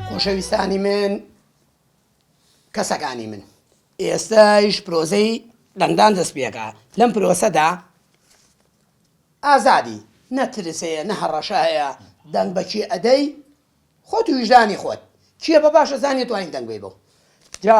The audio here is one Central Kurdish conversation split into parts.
خۆشەویستانی من کەسەکانی من ئێستایش پرۆزەی دەنگدان دەست پێکا لەم پرۆسەدا ئازادی نەترسەیە نە هەڕەشایە دەنگ بەچی ئەدەی خۆت ویژدانی خۆت چیە بە باشە زانانی توانین دەنگی بۆ جا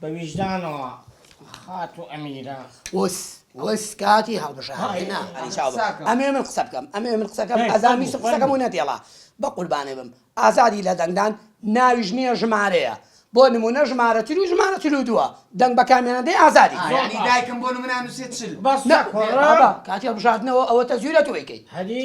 بە ویژدانەوە خاتو ئەمیرە وس وس کاتی هەڵبژاردنە ئەلی چاو بە. ساکە. ئەمێ من قسە بکەم ئەمێ من قسەکەم هەی، ئەزان ویست فەرموو، قسەکەم و فەرموو. نەتێڵا بە قوربانێ بم ئازادی لە دەنگدان ناویش نییە ژمارەیە بۆ نموونە ژمارە تر و ژمارە چل و دووە دەنگ بە کامیان دەی ئازادی آه، یعنی دایکم بۆ نمونە نووسێت چل بەس نە سەکۆڕە بابا کاتی هەڵبژاردنەوە ئەوە تەزویرە تۆ ئەیکەی هەدی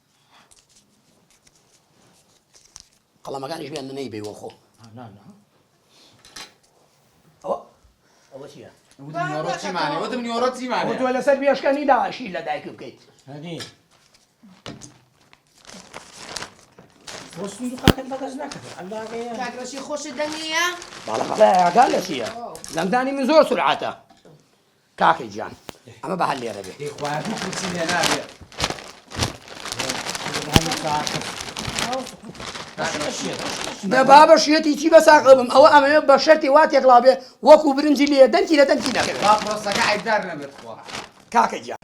قەڵەمەکانی ژیان نەی بێ وەخۆ تۆ لەسەر بێشکەنی داواشی لە دایک بکەیت کاکڕەشی خۆشت دەنگە باڵەکەڵیاگا لە چیە دەنگدانی من زۆر سرعاتە کاکە گیان ئەمە بە هەر لێرە بێ. هی خوایە هیچ وچی لێ نابێ نە بابە شێتی چی بەساقە بم ئەوە ئەمەوێ بە شەرتی وا تێکڵا بێ وەکو برنجی لێ دەنگی لە دەنگی نەکەوێت با پرۆسەکە عیبدار نەبێت خوا کاکە گیان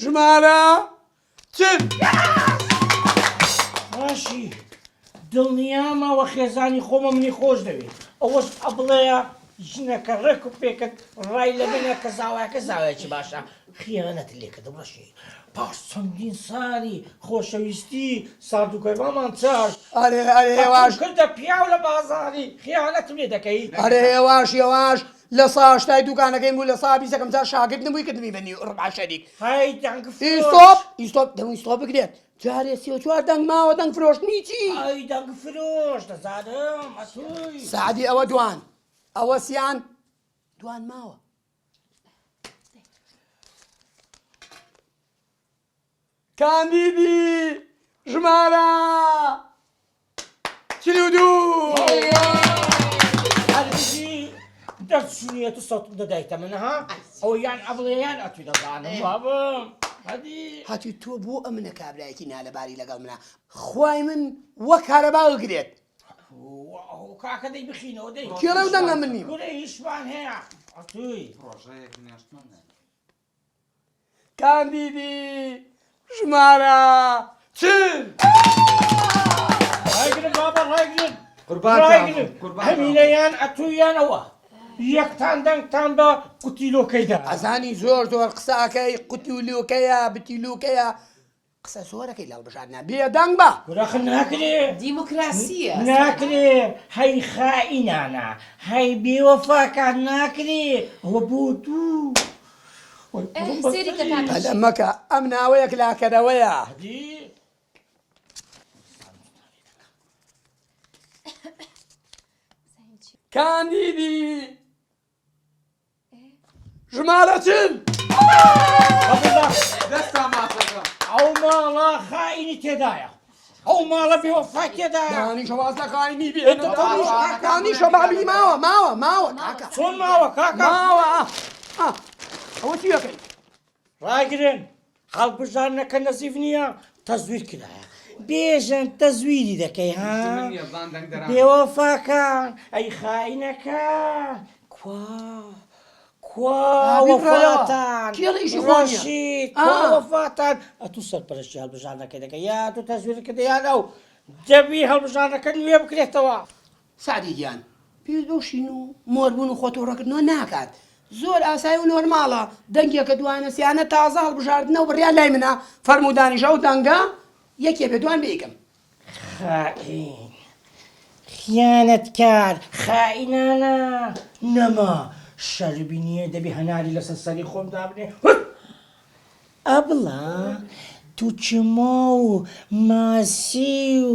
ژمارە چل. باشی دڵنیامە وە خێزانی خۆمە منی خۆش دەوێ ئەوەش ئەبڵێە ژنەکە ڕێک و پێکرد ڕای لە منە کە زاوایەکە زاوایەکی باشە خیانەت لێکرد ڕەشی پاش چەندین ساری خۆشەویستی سارد و گەرمامان چاش ئەرێ ئەرێ هێواش کردە پیاو لە بازاری خیانەتم لێ دەکەی ئەرێ هێواش هێواش لە سا هەشتای دووکانەکەیم بوو لە سا بیسەکەم جا شاگرد نبووی کردمی بە نیو ربع شەریک هەی دەنگ فروش ئیستۆپ ئیستۆپ دەمووی ستۆپ بکرێت جارێ سی و چوار دەنگ ماوە دەنگ فرۆشتنی چی هەی دەنگ فروش دەزانم ئەتووی سەعدی ئەوە دوان ئەوە سیان دوان ماوە کاندیدی ژمارە چل و دوو. هەتیو تۆ بۆ ئەمنە کابرایەتی نالەباری لەگەڵ منە خوای من وەک کارەبا گرێت کێڵە دەنگە منی کاندیدی ژمارە چل. ڕایگرن بابە ڕایگرن ڕایگرن هەمینە یان ئەتوو یان ئەوە یەکتان دەنگتان بە قوتیلۆکەیدا. ئەزانی زۆر زۆر قسە ئەکەی قوتیلوکەیە بتیلوکەیە قسە زۆرەکەی لە هەڵبژاردنا بێدەنگ بە. گوراخ ناکرێ دیموکراسیە ناکرێ هەی خائینانە هەی بێ وەفاکان ناکرێ ئەوە بۆ دوو پەلە مەکە ئەم ناوەیەک لاکەرەوەیە. کاندیدی. ژمارە چل ئەو ماڵە خاینی تێدایە ئەو ماڵە بێ وەفای تێدایە دانی شەوازە خاینی بێ دانی شەبابی ماوە ماوە ماوە کاکە چۆن ماوە کاکە ماوە ئەوە چی دەکەیت ڕایگرن، هەڵبژاردنەکە نەزیف نییە، تەزویر کرایە. بێژەن تەزویری دەکەی ها؟ بێوەفاکان، ئەی خائینەکان، کوا کوا وەفاتان، ڕەشید، کوا وەفاتان، ئەتوو سەرپەرەشتی هەڵبژاردنەکەی دەکەی یا ئەتوو تەزویرت کردە یان ئەو؟ دەبی هەڵبژاردنەکە نوێ بکرێتەوە. سەعدی گیان پێویست بەو شین و مۆر بوون و خۆ توڕە کردنەوە ناکات زۆر ئاسای و نۆرماڵە دەنگێکە دوانە سیانە تازە هەڵبژاردنە و بڕیار لای منە فەرموودانیش ئەو دەنگە یەکێ بێ دوان بێیکەم خائین خیانەتکار خائینانە نەما شەرمی نییە دەبێ هەناری لەسەر سەری خۆم دابنێ هوت! ئەبڵە تو چما و ماسی و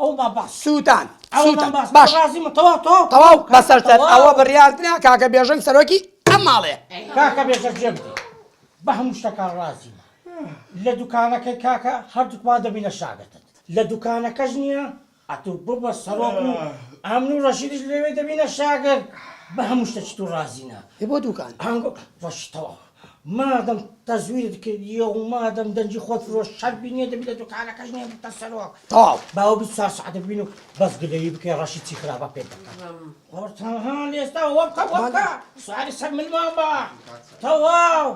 ئەو مەبەست سووتان ئەو سووتان. مەبەست باش ڕازی من تەواو تەواو تەواو کە بەسەر سەر تەواو. ئەوە بڕیارتنە کاکە بێژەنگ سەرۆکی ئەم ماڵێ کاکە بێژەنگ جێ بدەی بە هەموو شتەکان ڕازیمە لە دوکانەکەی کاکە هەردووکمان دەبینە شاگرتت لە دوکانەکەش نییە ئەتوو ببە سەرۆک و ئەمن و ڕەشیدیش لەوێ دەبینە شاگرت بە هەموو شتەکی تۆ ڕازینە ئێ بۆ دوکان؟ هەنگۆ ڕەشی تەواو. مادەم تەزویرت کردیە و مادەم دەنگی خۆت فرۆشت شەربی نیە دەبی لە دوکانەکەش نیە بتە سەرۆک تەواو باوە بیست چوار سەعاتە ببین و بەس گلەیی بکەی ڕەشی چی خراپە پێت دەکەن قۆرتان ها لێستا وەبکە وەبکە سواری سەر ملمان بە تەواو